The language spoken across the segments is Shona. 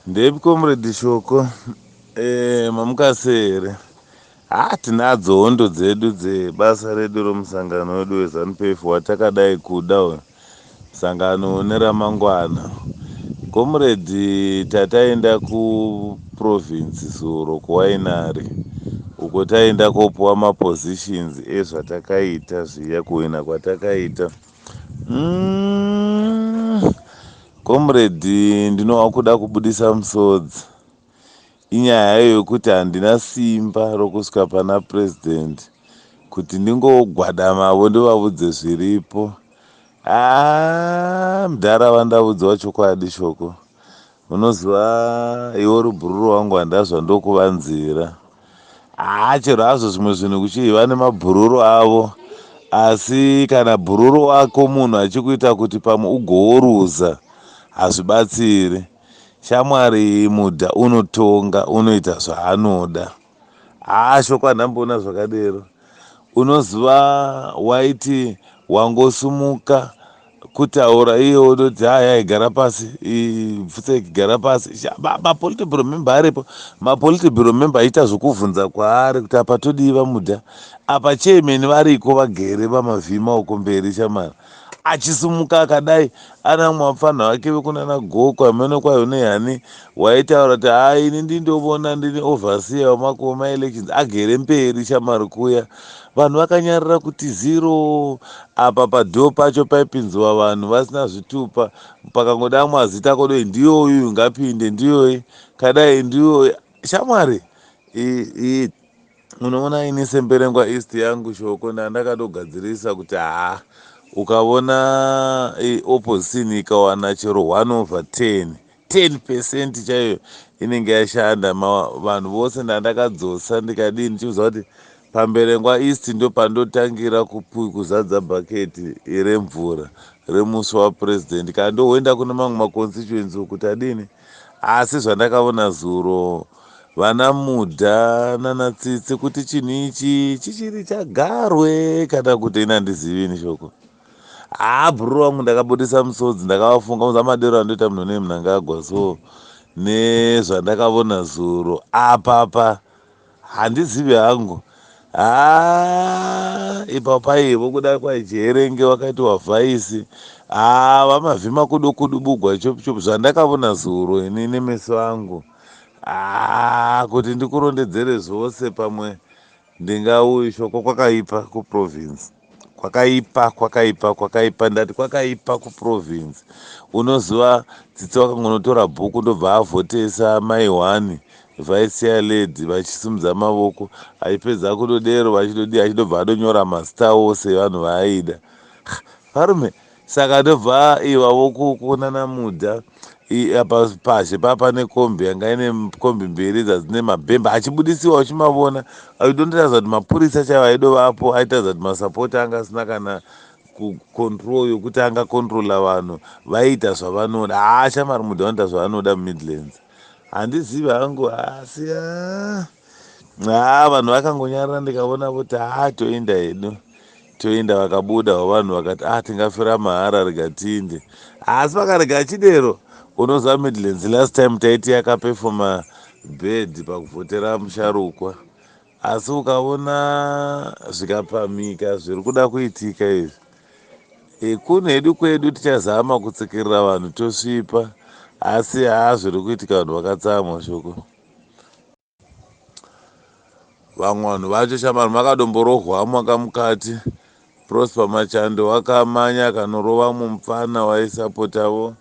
ndepi comrade shoko eh, mamukasere ha ah, tinadzo hondo dzedu dzebasa redu romusangano wedu wezanupf watakadai kuda uyu sangano une ramangwana comrade tataenda ku province zuro kuWainari uko taenda kopuwa mapositions ezvatakaita zviya kuwina kwatakaita mm, comrade ndinova kuda kubudisa musodzi inyaya yokuti handina simba rokusvika pana president kuti ndingogwadamavo ndovavudze zviripo aa ah, mdhara vandaudzwa chokwadi shoko Unoziva iwe uri bhururu wangu handazva ndokuvanzira. Haa chero hazvo zvimwe zvinhu kuchii vane mabhururu avo asi kana bhururu wako munhu achikuita kuti pamwe ugooruza hazvibatsiri. Shamwari mudha unotonga unoita zvaanoda. Haa shoko ndamboona zvakadero unoziva waiti wangosumuka kutaura iye odoti haya igara pasi pfutseki ikigara pasi mapolitiburo memba aripo mapolitiburo memba aita zvokuvhunza kwaari kuti apa todii vamuda apa chairman variko vagere vamavhima uko mberi shamara achisimuka akadai ana mwapfanha vake vekunana goko hameno kwayo nehani waitaura kuti haa ini ndindovona ndini overseer wamakuva maelections agere mberi shamari kuya vanhu vakanyarira kuti zero apa padoo pacho paipinziwa vanhu vasina zvitupa pakangodamwa zita kodoi ndiyoyu ngapinde ndiyoyi kadai ndiyoyi shamwari Munoona ini semberengwa east yangu shoko ndandakatogadzirisa kuti haa ukavona eh, opposition ikawana chero 1 over 10 10 percent chaiyo inenge yashanda vanhu vose ndandakadzosa ndikadii ndichiuza kuti pamberengwa east ndopandotangira kuzadza bhaketi remvura remusi wapurezidendi kana ndohoenda kune mamwe maconstituency kuti adini Asi zvandakaona zuro vana Mudha nana Tsitsi kuti chinhu ichi chichiri chagarwe kana kuti ini handizivi ini shoko. Haa bhuru wangu ndakabudisa musodzi ndakavafunga kunza madero andoita munhu nemunangagwa so nezvandakavona zuro apapa Handizivi hangu haa ipa paivo kuda kwajeerenge wakati wavhaisi haa vamavhima kudo kudubugwa chop chop zvandakavona zuro ini nemeso angu haa kuti ndikurondedzere zvose pamwe ndingauyi shoko kwakaipa kuprovince kwakaipa kwakaipa kwakaipa ndati kwakaipa kuprovince unoziva tsitsi wakangonotora bhuku ndobva avhotesa mai one vice chair lady vachisimudza mavoko achipedza kudodero vachidodii achidobva adonyora mazita ose evanhu vaaida varume Saka ndobva iva vokuonana muda apa pazhe paa pane kombi yanga ine kombi mberi dzadzine mabhemba achibudisiwa uchimavona aidondiratidza kuti mapurisa chaivo aidovapo aitadza kuti masapoti anga asina kana kucontrol yokuti angacontrola vanhu vaiita zvavanoda haa shamari muda vanoita zvavanoda mumidlands handizivi hangu hasi haa vanhu vakangonyarira ndikavona voti haa toenda hedu toenda vakabuda vavanhu vakati ah tingafira mahara rega tiinde asi vakarega achidero unoziva midlands last time taiti yakapefoma bed pakuvhotera musharukwa asi ukaona zvikapamhika zviri kuda kuitika izvi ekunu hedu kwedu tichazama kutsikirira vanhu tosvipa asi haa zviri kuitika vanhu vakatsamwa shoko vamwe vanhu vacho shamari makadomborohwa mwaka mukati prosper machando wakamanya akanorova mumupfana waisapotavo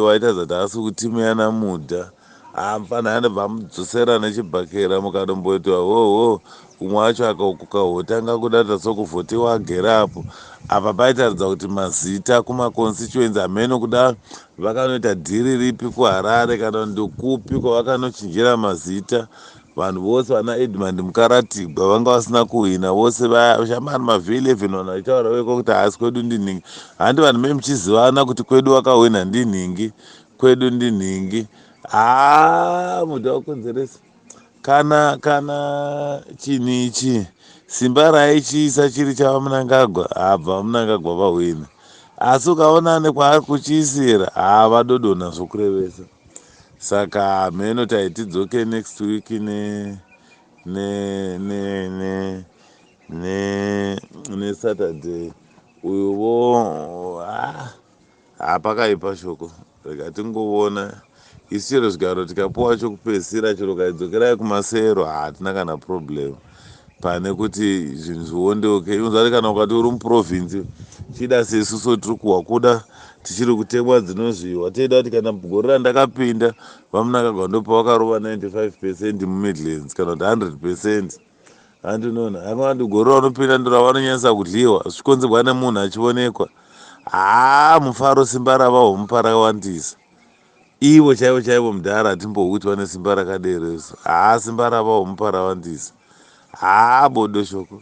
waita zati haasi kutimu yana mudha haa mupfana yandobva amudzosera nechibhakera mukadomboitwa hoho Umwe wacho akaukuka hote anga akudada so kuvhotewa agere apo. Apa paitaridza kuti mazita kuma constituency hameno kuda vakanoita dhiri ripi kuHarare kana ndokupi kwavakanochinjira mazita. Vanhu vose vana Edmund Mukaratigwa vanga vasina kuhwina vose vaya shamari mavhi 11 vanhu vachitaura veko kuti haasi kwedu ndinhingi. Handi vanhu me muchizivana kuti kwedu wakahwina ndinhingi kwedu ndinhingi haa muda wakonzeresa. kana kana chinhu ichi simba raichiisa chiri chavamunangagwa habva vamunangagwa vahwina asi ukaona ane kwaari kuchiisira hava dodona zvokurevesa saka hameno taiti dzoke next week ne ne ne ne ne nesaturday uyo vo ah. Haa pakaipa shoko rega tingovona isu chero zvigaro tikapuwa chokupedzisira chero kaidzokerai kumasero hatina kana problem pane kuti zvinhu zviondeuke even zvati kana ukati uri muprovince chida sesu so tiri kuhwa kuda tichiri kutemwa dzinozviwa teida kuti kana gore randakapinda vamunakagwa ndopavakarova 95 percent mumidlands kana kuti 100 percent Hanti nona anga vanti gore raunopinda ndiro ravanonyanyisa kudliwa zvichikonzerwa nemunhu achionekwa. Haa mufaro simba rava homupa rakawandisa. Ivo chaivo chaivo mudhara hatimbohuti vane simba rakadero isu. Haa simba rava homupa rawandisa. Haa bodo shoko.